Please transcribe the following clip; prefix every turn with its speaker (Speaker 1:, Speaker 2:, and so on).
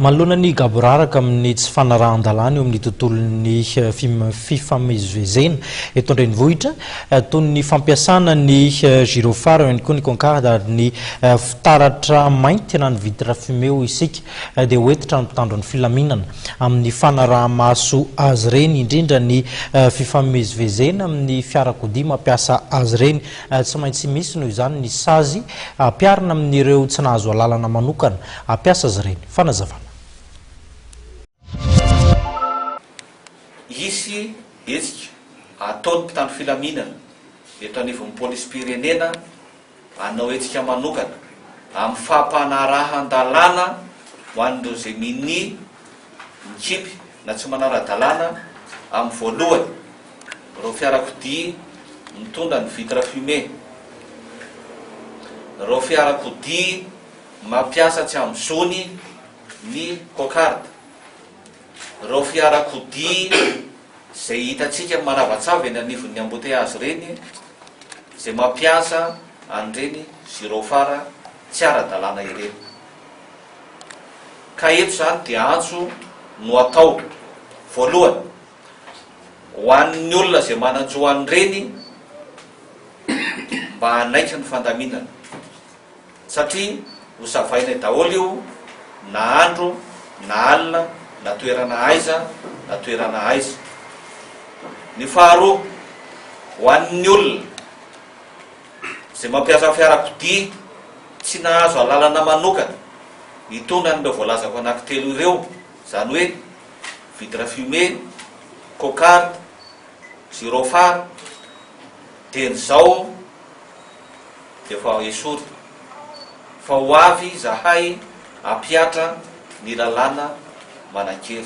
Speaker 1: Manoloana ny gaboraraka amin'ny tsy fanarahan-dalàna eo amin'ny tontolon'ny fifamezivezena eto an-drenivohitra, toy ny fampiasana ny gyrophare eo ihany koa ny concarde ary ny fitaratra mainty na ny vitre fumée hoy isika, dia ho hentitra ny mpitandro ny filaminana amin'ny fanaraha-maso azy ireny, indrindra ny fifamezivezena amin'ny fiarakodia mampiasa azy ireny. Tsy maintsy misy, noho izany, ny sazy ampiharina amin'ireo tsy nahazo alalana manokana hampiasa azy ireny. Fanazavana.
Speaker 2: Hisy hetsika ataon'ny mpitandro filaminana eto anivon'ny polisim-pirenena hanao hetsika manokana amin'ny fampanarahan-dalàna ho an'ireo izay minia, mikipy na tsy manara-dalàna amin'ny voalohany. ireo fiarakodia mitondra ny vitre fumée, ireo fiarakodia mampiasa tsy amin'ny zony ny cocarde, ireo fiarakodia izay hitantsika manavatsava eny anivon'ny embouteillages ireny izay mampiasa an'ireny gyrophare tsy ara-dalàna ireny. Ka eto izany dia antso no atao. Voalohany. Ho an'ny olona izay manan-jo an'ireny mba hanaiky ny fandaminana satria ho savainay daholo io na andro na alina na toerana aiza na toerana aiza. Ny faharoa, ho an'ny olona izay mampiasa fiarakodia tsy nahazo alalana manokana hitondra an'ireo voalazako anankitelo ireo, izany hoe Vitre fumée, cocarde, gyrophare, dia ny zao dia efa esory fa ho avy zahay ampihatra ny lalàna manan-kery.